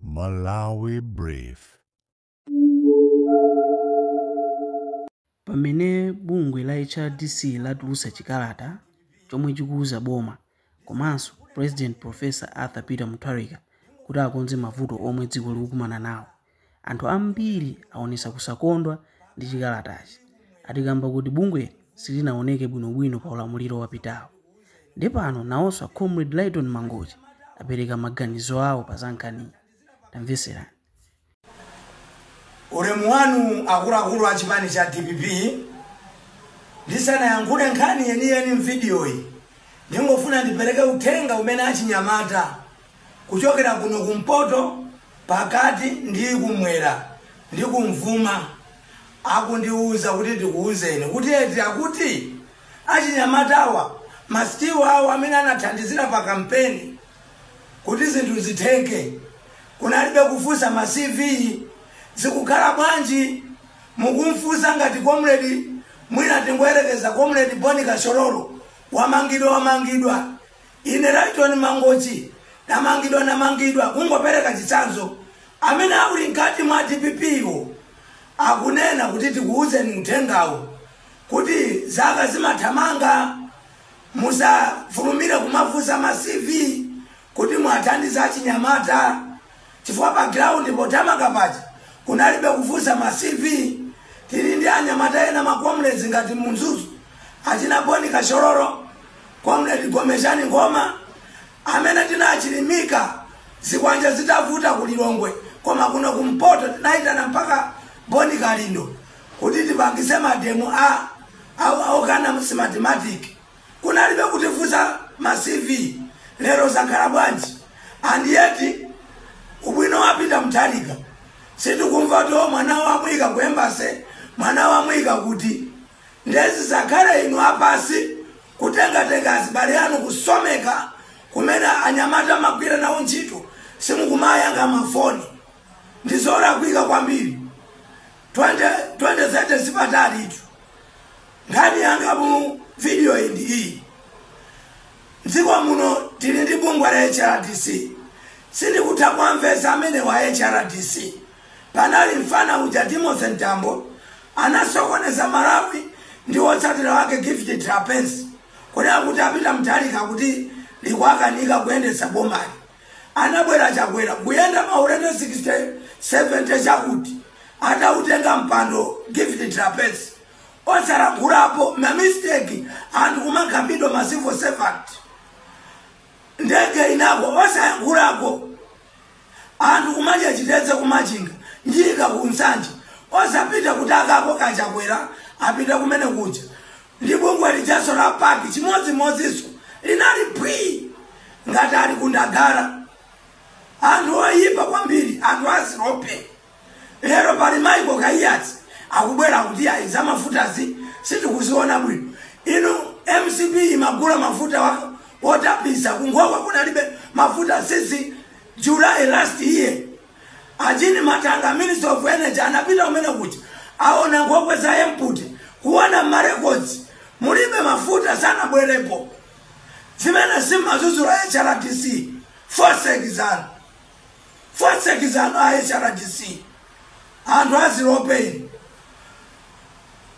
Malawi Brief. Pamene bungwe la HRDC latulutsa chikalata chomwe chikuuza boma komanso President Prof. Arthur Peter Mutharika kuti akonze mavuto omwe dziko likukumana nawo, anthu ambiri aonetsa kusakondwa ndi chikalatachi ati kamba kuti bungweli silinaoneke bwinobwino pa ulamuliro wapitawo. Nde pano nawonso a Comrade Lyton Mangochi apereka maganizo awo pa za nkhaniyi. Tamvetserani. Ulemu wanu akuluakulu a chipani cha dpp, ndisanayankhule nkhani yeniyeni m'vidiyoyi, ndingofuna ndipereke uthenga umene achinyamata kuchokera kuno kumpoto, pakati ndi kumwera ndi kum'mawa akundiuza kuti ndikuuzeni kuti eti akuti achinyamatawa masitiwu awo amene anathandizira pa kampeni kuti zinthu zitheke kunalibe kufunsa ma cv zikukhala bwanji mukumfunsa ngati comrade mwina tingoyerekeza comrade boni Kachololo wamangidwa wamangidwa Ine Lyton Mangochi ndamangidwa ndamangidwa kungopereka chitsanzo amene akuli mkati mwa dpp wo akunena kuti tikuuzeni uthengawo kuti zaka zimathamanga, musafulumire kumafunsa ma CV kuti muathandize achinyamata. chifukwa pa ground pothamanga paja kunalibe kufunsa ma CV tili ndi anyamata ena ma comrades ngati mu Mzuzu achina Boni Kachololo comrade Gomezgani Ngoma amene tinachilimika zikwanja zitavuta ku Lilongwe koma kuno kumpoto tinaitana mpaka Boni Kalindo kuti tipangitse mademo a au au kana mathematics Kunalibe kutifunsa ma CV lero zakhala bwanji and yet ubwino wa Peter Mutharika sitikumva kuti o mwana wamuyika ku embassy mwana wamuyika kuti ndezi zakale inu apasi kutengatenga azibale anu kusomeka kumene anyamata mumagwira nawo ntchito simukumayankha mafoni ndizolakwika kwambiri 2030 sipatalitu nkhani yanga mu video iyi ndi iyi mdziko muno tili ndi bungwe la hrdc sindikutha kuwamvetsa amene wa hrdc panali mfana uja timothy mtambo anasokoneza malawi ndi wotsatira wake gift trapence kunena kuti a Peter Mutharika kuti likuwakanika kuyendetsa bomali Anabwera chakwera kuyenda maulendo 60 70 chakuti atautenga mpando gift trapence osalankhulapo ma mistake anthu kumakhapidwa ma civil servant ndege inagwa osayankhulako anthu kumadya chitedze ku machinga nyika ku nsanje osapita kuti akakoka chakwera apita kumene kuja ndi bungwe lijanso la pac chimodzimodzinso linali phwii ngati ali ku ndagara anthu oyipa kwambiri anthu azilope lero pali michael kaiyatsa akubwera kuti ayi za mafutazi sitikuziona bwino inu mcp imagula mafuta wa- wotapisa kunkhokwe kunalibe mafuta since july last year a jean mathanga minister of energy anapita kumene kuti aone nkhokwe za empty kuona marekodzi mulibe mafuta sanabwerepo zimene simmadzudzula a hrdc foseki zanu foseki zanu a hrdc anthu azilopeni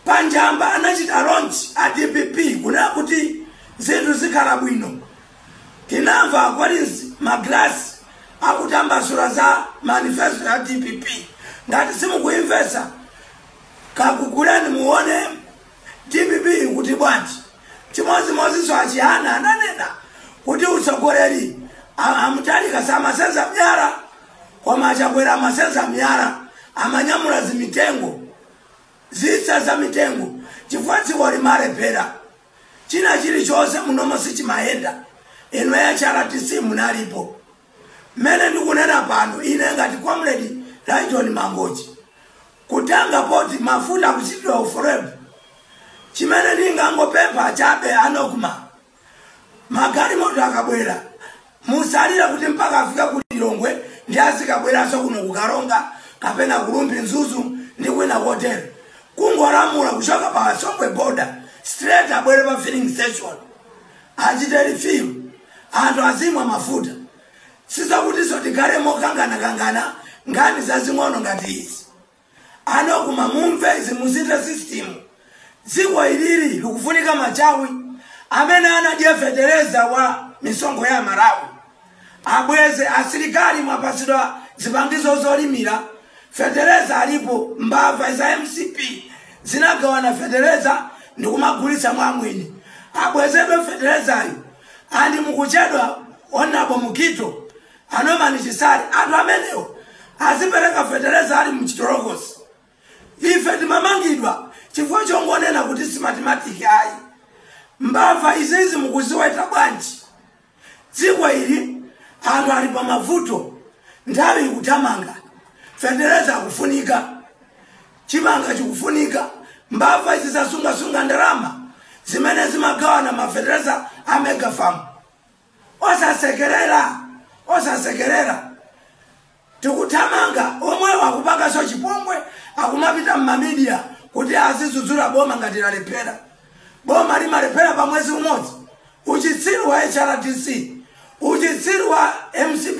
panjamba anachita launch a dpp kunena kuti zinthu zikhala bwino tinamva a collins magalasi akutambasula za manifesto ya dpp ngati simukuimvesa kakuguleni muone dpp kuti bwanji chimodzimodzinso achihana ananena kuti utsogoleri a- amutharika samasenza miyala koma achakwera amasenza miyala amanyamula zimitengo zitsa za mitengo chifukwa dziko limalephera china chilichonse munomo sichimayenda inu a hrdc munalipo mmene ndikunena pano ine ngati comrade lytton mangochi kutenga poti mafuta kuchitidwa ufurebu chimene ndingangopempha chabe a nocma magalimoto akabwera Musalole kuti mpaka afika ku Lilongwe ndiye azikabweranso kuno ku Karonga kapena ku Rumphi Mzuzu ndi kwina kotere. Kungolamula kuchoka pa Songwe border straight abwere pa filling station. Achite refill. Anthu azimwa mafuta. Sizakutinso tikhale mokanganakangana nkhani zazing'ono ngati izi. a nocma mumve izi musinthe system dziko ilili likufunika machawi amene anadya fetereza wa misonkho ya malawi abweze asilikali mwapatsidwa zipangizo zolimira fetereza alipo mbava za mcp zinagawana fetereza ndi kumagulitsa mwamwini abwezedwe feterezayo andi mukuchedwa honourable mukhito A Norman Chisale, anthu amenewo azipereka feteleza ali mchitolokosi. Ife timamangidwa chifukwa chongonena kuti si matimatiki ayi. Mbava izizi mukuziweta bwanji? Dziko ili anthu ali pa mavuto, nthawi ikuthamanga, fetereza akufunika, chimanga chikufunika, mbava izi zasungasunga ndalama zimene zimagawana mafeteleza a megafarm. osasekerera osasekerera tikuthamanga omwewo akupanganso chipongwe akumapita m'mamidiya kuti azidzudzula boma ngati lalephera boma limalephera pa mwezi umodzi uchitsiru wa hrdc uchitsiru wa mcp